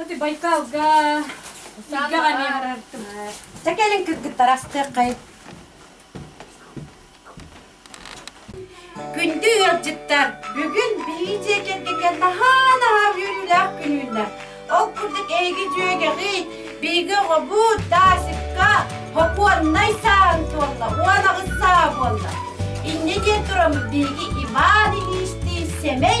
Ити Байкалга тиийгэҕэ эмиэ барартым. Чэ кэлин кыргыттар астыаххай. Күндү ыалдьыттар, бүгүн биһи дьиэ кэргэҥҥэ наһаа наһаа үөрүүлээх күнүүлэр. Ол курдук эһиги дьүөгэҕит, биһиги оҕобут Дасикка хокуоннай сааһын туолла, уон аҕыс саа буолла. Инньэ диэн тураммыт биһиги Иван Ильичтиин сэмэй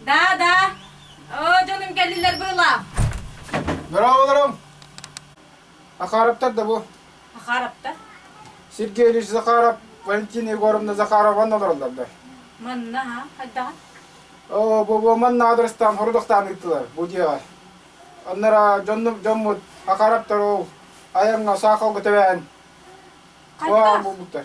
Да, да. Оо, дьонум кэллилэр быылаах. Здраволаром! Захаровтар да бу. Захаровтар? Сергей Ильич Захаров, Валентина Егоровна Захарова олороллордар. Манна ха, хайдаҕа? Оо, бу манна адрестан хорудохтаан ыыттылар бу дьиэҕэ. Аннара дьон дьоммут Захаровтар ол айаҥҥа саақалга тэбээн Хайдах? буолбуттар.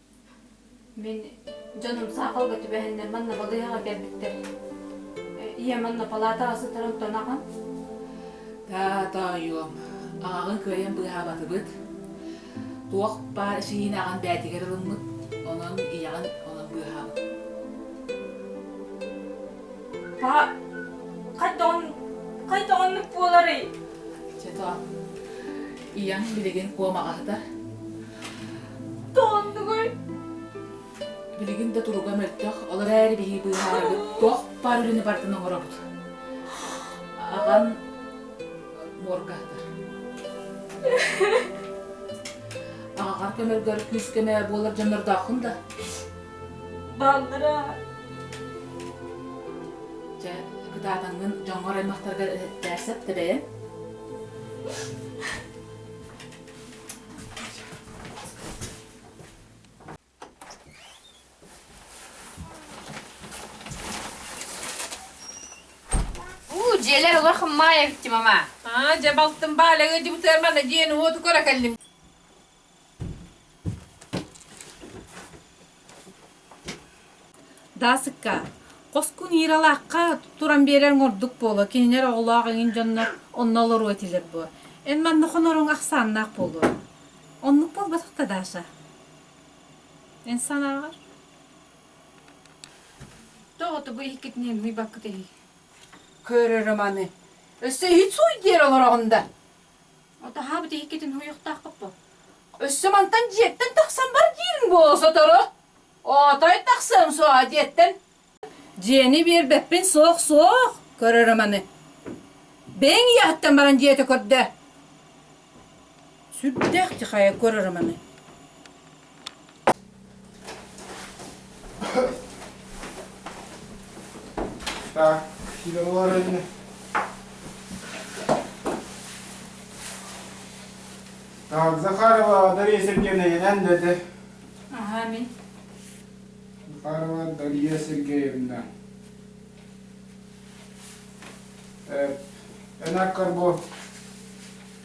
Мин дьонум саахалга түбэһэннэр манна балыыһаҕа кэлбиттэр. Ийэ манна палаатаҕа сытарын тонаҕын. Таата ойуом, аҕаҕын кыайан быыһаабатыбыт. Туох баар эчэйиин аҕан бээтигэр ылыммыт, онон ийэҕин онон быыһаабыт. Паа, хайдаҕын хайдаҕыннык буоларый? Чэ тоо, ийэҥ билигин куомаҕа сытар. Тооннугуй! Билигин да туруга мөлтөх, ол эрээри биһиги быыһаарарбыт туох баар үлэни барытын оҥоробут. Аҕан моргаһытар. Аҕаҕар көмөргөр күүс-көмө буолар дьоннордооххун да? Бааллара. Дьэ, кытаатаҥҥын дьоҥҥор аймахтаргар эһэттээр сөп, тэбэйэн? уу дьиэлэр улах маайа битти мама аа дьэ балтым баалага дьыбытыар мана диэн уоту кора кэллим Даасыкка, Хоскун Иралаахха туран биэрэрин ордук буолуо, кинилэр оҕолоох эҥин дьоннор онно олоруо этилэр буо. Эн манна хоноруҥ ахсааннаах буолуо. Оннук буолбатах да, Даша? Эн санааҕар? Тоҕото бу иһиккитинэн ыйбаккыт эһий? Көрөрө маны. Өссө иһит сууй диэр олороҕун да? Атаһаа бу тиһиккитин уһуйуохтаахпыт бо. Өссө мантан дьиэттэн тахсан бар диирин буола сотору. Отой тахсыам суоҕа дьиэттэн. Дьиэни биэрбэппин суох суох көрөрө маны. Бэйэҥ ийэһиттэн баран дьиэтэ көрдө. Сүрдээх тихайа көрөрө маны. Так, Сидорова районе. Так, Захарова Дарья Сергеевна Янендеде. Амин. Захарова Дарья Сергеевна. Э, Энак Карбо.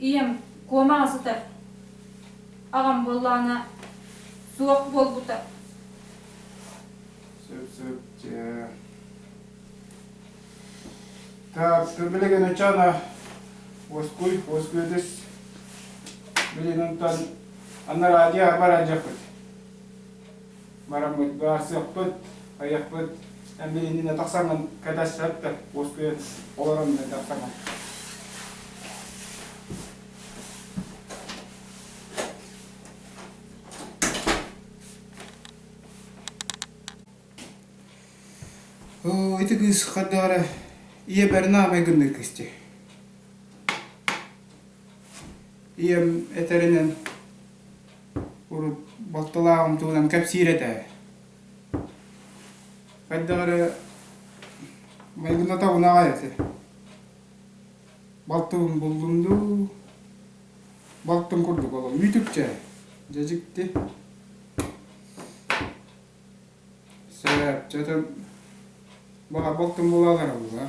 ийэм куомаҕа сытар аҕам буоллаҕына суох буолбута сөп сөп дьэ так что билигин ычана оскуй оскуйдус билининтан анна радио баран жаппыт Мараммыт, баарсыахпыт, айахпыт эмиэ иннинэ тахсаҥын кэтэ сөп да, уоскуйан олорон тахсаҥын. Оо, ити кыыс хардара ийэ бэрнаамай гыннык кисти. Ийэм этэринэн урут балтылаах умтуунан кэпсиир этэ хайдах эрэ майгына табынаҕай этэ балтыбын буллум дуу балтым курдук олом үүтүкчэ дьэдьикти сөп дьэтин баҕар балтым була олоробуга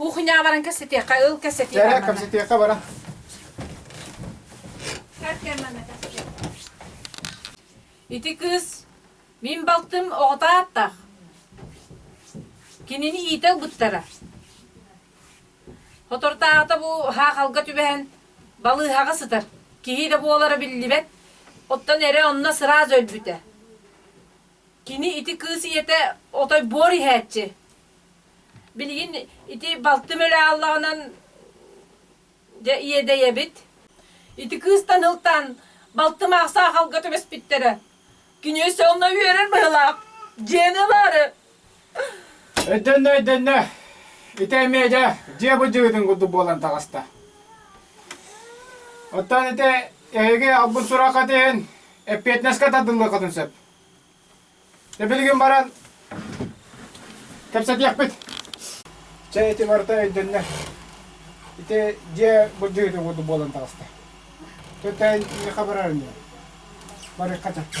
Кухня баран кэссетиэххэ, ыл кэссетиэххэ. Жара кэссетиэххэ бара. Ити кыыс мин балтым оҕото ааттаах. Кинини иитэ ылбыттара. Хотортаата бу хаахалга түбэһэн балыыһаҕа сытар. Киһи да буолара биллибэт. Оттон эрэ онно сразу өлбүтэ. Кини ити кыыс ийэтэ отой буор иһээччи. Билигин ити балтым өлө ааллаҕынан дьэ иэдэйэбит. Ити кыыстан ылтаан балтым аах саахалга түбэспиттэрэ. Кини өссө онно үөрэр быһылаах. Дьиэни ылаары. Өйдөннө, өйдөннө. Ити эмиэ дьэ дьиэ былдьыгытын курдук буолан таҕыста. Оттон ити эһиги албын сураххыт иһин эппиэтинэскэ тардыллыаххытын сөп. Эбилигин баран кэпсэтиэхпит. Чэ, ити барыта өйдөннө. Ити дьиэ буддьыыта курдук буолан таҕыста. Төтөн иха барарын барыхха чаппа.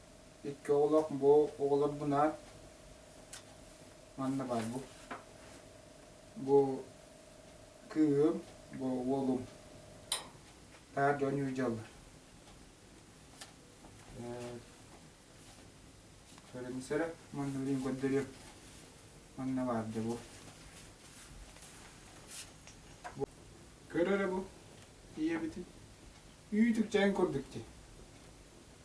Икки оҕолоох бу оҕолор бунаат манна баар бу. Бу кыым, бу уолум. Таар дьон южалла. Көрүмсэрэ маннуурин көрдөрүөм. Манна баарда бу. Көрөрө бу. Ийэбитин. Үүтүкчээн көрдүктү.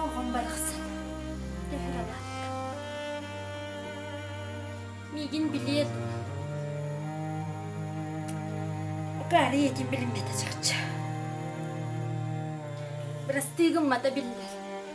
Оҕом барахсан төһөр алаакка Миигин билиэ дуо? Акаары ийэтин билиммэтэ чачча. Бырастыы гыммата биллэр.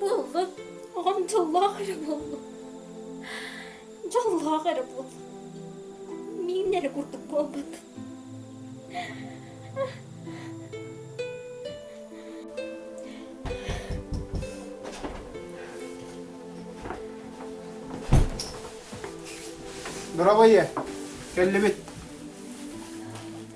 Буоллун, оҕом дьоллоох эрэ буоллун. Дьоллоох эрэ буоллун. Миин эрэ курдук буолбут. Дорабайы, кэллибит.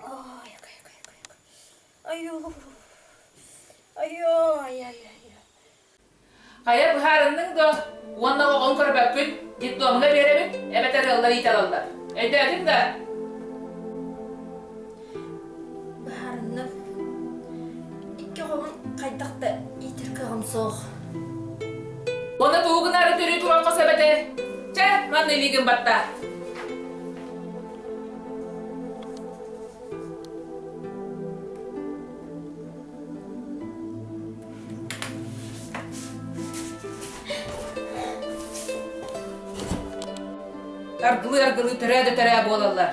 Ой, ой, ой, ой, ой. Айуу. Айой, ай, ай, ай. Хайа быһаарынның да уонна оҕоҕун көрбөккүн детдомуна биэрэбит эбэтэр ыаллар иите алаллар. Өйдөөтүн да Быһаарынным. Икки оҕоҕун хайдах да иитир кыаҕым суох. Оны тугунары түрүү туран қос эбете. Чэ, манны илигин батта. Аргылыы-аргылыы төрөө да төрөө буолаллар.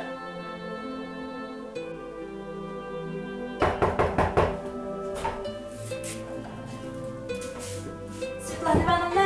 Светлана Ивановна,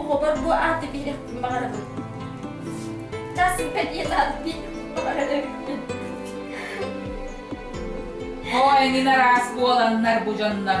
Оҕобор бу ааты биэрэхпин баҕарабын. Чаасыппа диэн ааты баҕаран эбиппин. Оо, эҥин араас буоланнар бу дьоннор.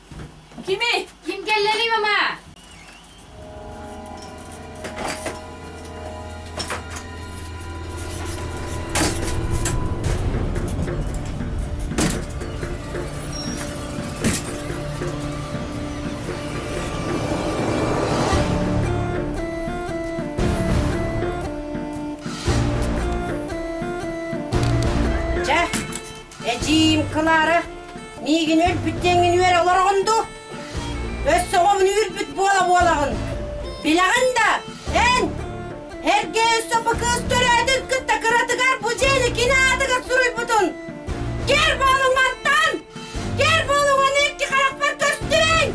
Кими? Ким кэллэлий, мама? Эдьиийим Клара миигин өлбүт диэҥҥин үөрэ олороҕун дуу? Өссө оҕобун үүрбүт буола-буолаҕын. Билэҕин да, эн эргэ өссө бу кыыс төрөөтүн кытта кыратыгар бу дьиэни кини аатыгар суруйбутун. Көр буолуҥ мантан! Көр буолуҥ аны икки харахпар көстүбэҥ!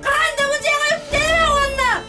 Хаһан да бу дьиэҕэ үктэнэмэ уонна!